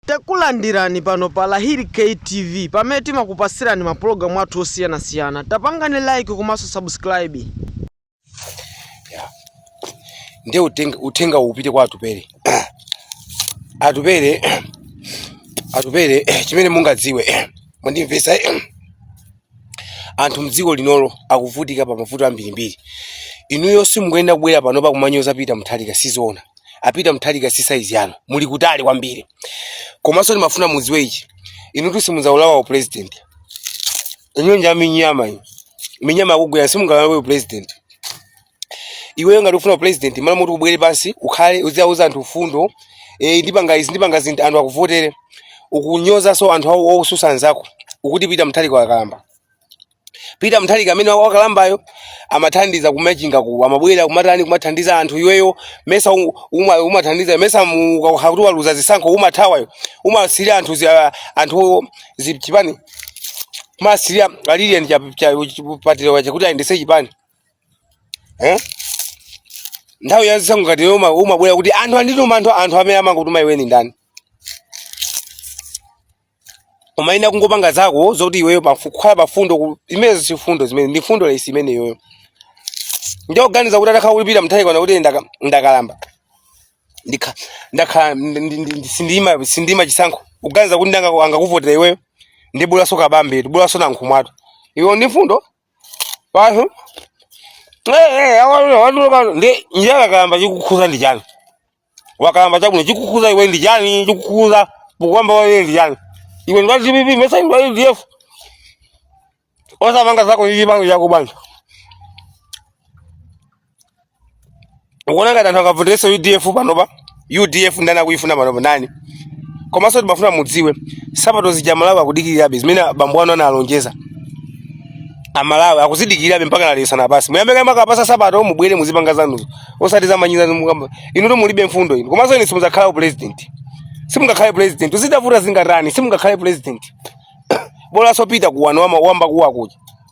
Takulandirani pano pa Lahiri K TV pamene timakupatsirani ma program athu osiyanasiyana. Tapangani like komanso subscribe. Yeah. Ndiye uthenga, uthenga upite kwa Atupele Atupele Atupele chimene mungadziwe mwandimvetsa anthu mdziko linolo akuvutika pa mavuto ambirimbiri inuyo simukuyenera kubwera pano n'kumanyoza Peter Mutharika sizoona a Peter Mutharika si saizi yanu muli kutali kwambiri komanso ndimafuna mudziwe ichi inutu simudzawulawa upresident inuyo ndi aminyama inu minyama akugwira simungaulawe upresident iweyo ngati ukufuna upresident m'malo moti ubwere pansi ukhale uziwauza anthu mfundo e, ndipanga izi ndipanga zinthu anthu akuvotere ukunyozanso anthu awo ukutsutsa anzako ukuti Peter Mutharika wakalamba Peter Mutharika amene wakalambayo amathandiza ku Machingako amabwera kumatani kumathandiza anthu iweyo mesa u- uma- umathandiza mesa ukakhala kuti waluza zisankho umathawayo umasiyira anthu zi- ah, anthu zipani umasiyira a Lilian Patel yo kuti ayendese chipani eh? nthawi yazisankho ngati iwe uma- umabwera kuti anthu andituma anthu anthu amene amakutuma iwe ndi ndani umayenda kungopanga zako zokuti iweyo pafu- kukhala pafundo ku- zimenezo si fundo zimenezo ndi fundo less imene iweyo ndiye ukuganiza kuti atakhala kuti Peter Mutharika wanena kuti ndaka- ndakalamba Ndikha- ndakhala ndi- ndi- ndi- ndi- sindima sindima chisankho ukuganiza kuti ndani angakuvotere iweyo ndi bolanso Kabambetu bolanso Nankhumwatu iwe ndi fundo Pano. Eh, awalula awalula pano. Ndi njala kalamba chikukhuza ndi chani? Wakalamba chabwino chikukhuza iwe ndi chani? Chikukhuza pokalamba iwe ndi chani? Iwe ndi wa DPP mesa ndi wa UDF. Osapanga zako za UDF yakoyo bwanji. ukuona ngati anthu angavoterenso udf panopa udf ndani akuyifuna panopa ndani komanso ndimafuna mudziwe nsapato zija Amalawi akudikirirabe zimene bambo anu analonjeza amalawi akuzidikirirabe mpaka lero lino basi muyambe kaye mwakapatsa nsapato mubwere muzipanga zanuzo osati zamanyizo mukukambazo inuyo mulibe mfundo inu komanso inu simudzakhala u president simungakhale president zitavuta zingatani simungakhale president bolanso Peter yuwano wama- wamba kuwakuja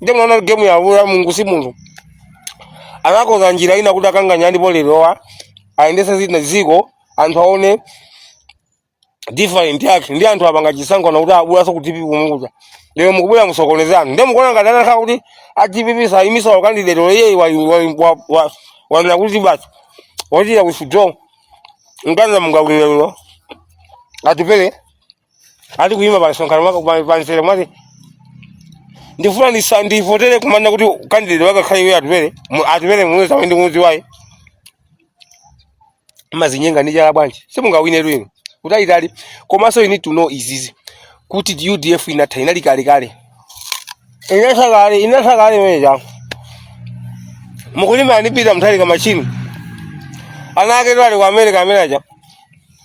nde mwana game yawo ya mulungu si munthu anakonza njira ina kuti a Chakwera ndipo lerowa ayendese kaye dziko anthu aone different yake ndi anthu apanga chisankho kuti a bolanso ku dpp komwe kuja lero mukubwera mukusokoneza anthu nde mukuona ngati atakhala kuti a dpp sayimitsa candidate iyeyo wanena kuti basi wachita withdraw mkanza mungawinelero atupele ali kuyima pa msonkhano maka pa- pa mzere mwati ndifuna ndisa- ndivotere kumana kuti kandidate wake akhale iwe atupele mu- atupele muluzi amene ndikumudziwayi mumadzinyenga ndi chala bwanji simungawine inu kutalitali komanso you need to know izizi kuti udf inatha inali kalekale inatha kale inatha kale imene changu mukulima ndi peter mutharika machini ana aketu ali ku america amene aja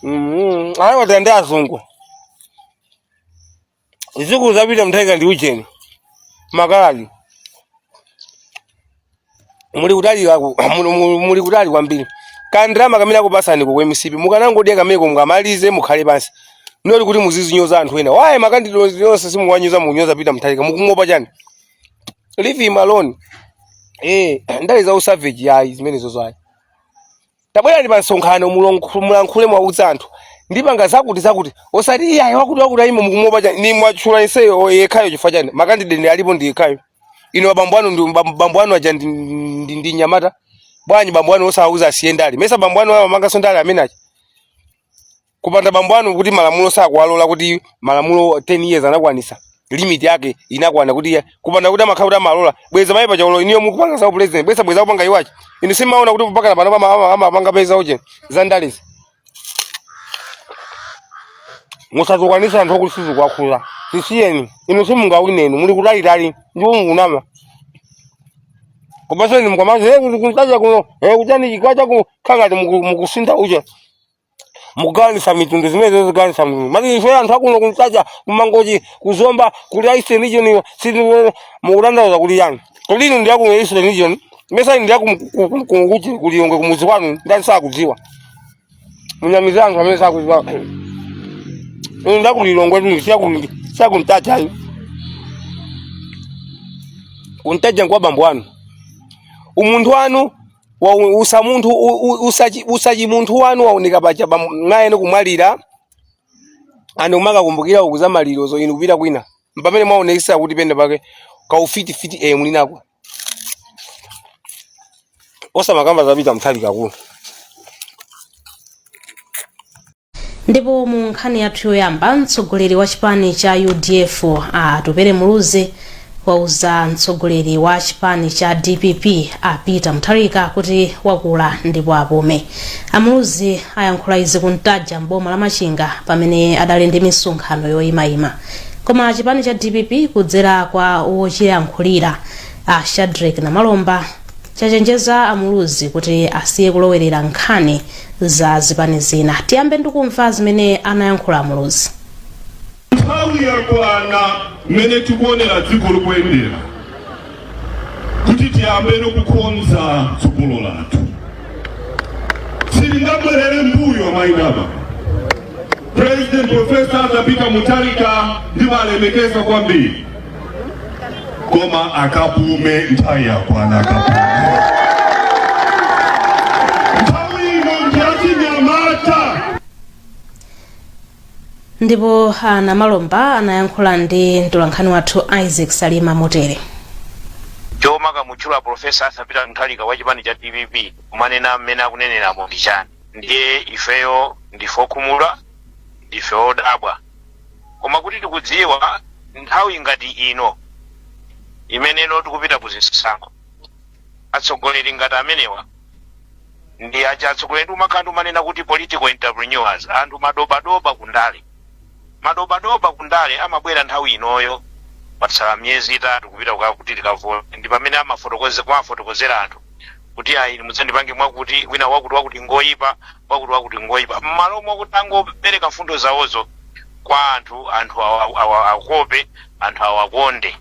Mhm. Ayi wati ndi azungu. Zidzukulu za Peter Mutharika ndi ujeni. Makaladi. Muli kutali kaku muli- muli muli kutali kwambiri. Kandalama kamene akupasani ku MCP mukanangodya kameneko mukamaliza mukhale pansi. Not kuti muzizinyoza anthu ena. Why makandideti onse simuwanyoza munyoza Peter Mutharika mukumuopa chani. Leave him alone. Eh, ndale za usavage ayi zimenezozo ayi. tabwerani pa msonkhano mulongo- mulankhule mwauza anthu ndipanga zakuti zakuti osati iye ayi wakuti wakuti ayimo mukumuopa chani ni mwatchula iyeyo o- yekhayo chifukwa chani makandideti alipo ndi yekhayo inu bambo anu ndi bam- bambo anu aja ndi, ndi, ndi nyamata bwanji bambo anu osawauza asiye ndale mesa bambo anu amapanganso ndale amene aja kupanda bambo anu kuti malamulo sakuwalola kuti malamulo 10 years anakwanisa limit yake inakwana kuti iye- kupanda kuti amakhala kuti amalola bweza mayi pachaulo inuyo mukupanga za upresident bweza bweza kupanga iwachi inu simaona kuti mpakana pano pama- ama- amapangabe za uje za ndalezi musazokwanisa anthu okuti sizikuwakhudza zisiyeni inu simungawine inu muli kutalitali ndipo mukunama komanso inu mukamazi kuntaja kuno eh, kuchani chikwacha ku khangati muku- mukusintha uje mugawanisa mitundu zimenezo zigawanisa mitundu mati ife anthu akuno kumtaja kumangochi kuzomba kuli eastern region sisi mukutanthauza kuti chani kodi inu ndi a ku eastern region mesa inu ndi a ku kunguchi ku lilongwe kumuzi kwanu ndani sakudziwa munamize anthu amene sakudziwa inu ndi a ku lilongwetu si a kuli si a kumtaja ayi kumtaja nkwa bambo wanu umunthu wanu wa usa munthu u- u- usachi usachi umunthu wanu waoneka paja pa mayi anu kumwalira and umakakumbukira kukhuza maliro zo inu kupita kwina mpamene mwaonekesa kuti penapake kaufiti fiti eh mulinako osamakamba za peter mutharika kuno ndipo mu nkhani yathu yoyamba mtsogoleri wa chipani cha udf a atupele muluzi wauza mtsogoleri wa chipani cha dpp a peter mutharika kuti wakula ndipo apume amuluzi ayankhula izi kuntaja m'boma la machinga pamene adali ndi misonkhano yoyimayima koma chipani cha dpp kudzera kwa wochiyankhulira a shadric namalomba chachenjeza amuluzi kuti asiye kulowerera nkhani za zipani zina tiyambe ndikumva zimene anayankhula muluzi nthawi yakwana mmene tikuonera dziko likuyendera kuti tiyambe ndikukonza tsogolo lathu silingabwerere mbuyo my dear president profesa Arthur Peter Mutharika ndimawalemekeza kwambiri koma akapume nthawi yakwana akapume nthawi ino ndiyachinyamata ndipo a Namalomba anayankhula ndi mtolankhani wathu isaac salima motere chomakamutchula profesa Arthur Peter Mutharika wa chipani cha dpp kumanena mmene akunenera muja ndi chani ndiye ifeyo ndife okhumudwa ndife odabwa koma kuti tikudziwa nthawi ngati ino imene ino tikupita ku zisankho atsogoleri ngati amenewa ndi aja atsogoleri ndi umakhala ndi umanena kuti political entrepreneurs anthu madobadoba kundale madobadoba kundale amabwera nthawi inoyo patsala miyezi itatu kupita kwa kuti tikavote ndi pamene amafotokoze- kumafotokozera anthu kuti ayi inu mudzandipange mwakuti wina wakuti wakuti ngoyipa wakuti wakuti ngoyipa mmalo mwakuti angopereka mfundo zawozo kwa anthu anthu awa- awa- akope anthu awakonde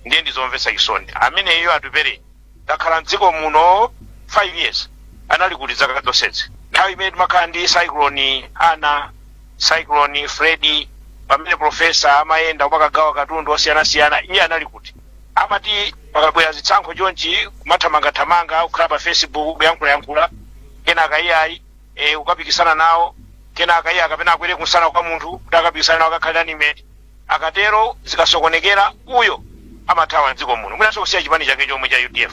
ndiye ndizomvetsa chisoni ameneyo atupere takhala mdziko muno 5 years anali kuti zaka zonsezi nthawi imene timakhala ndi cyclone ana cyclone Freddy pamene profesa amayenda kumakagawa katundu osiyanasiyana iye anali kuti amati pakabwera zisankho chonchi kumathamangathamanga kukhala pa facebook kuyankhulayankhula kenaka iyayi akapikisana nawo kenaka iye kapena akwere kumsana kwa munthu kuti akapikisana nawo akakhala running mate akatero zikasokonekera uyo amathawa mdziko muno mwinanso kusiya chipani chake chomwe cha udf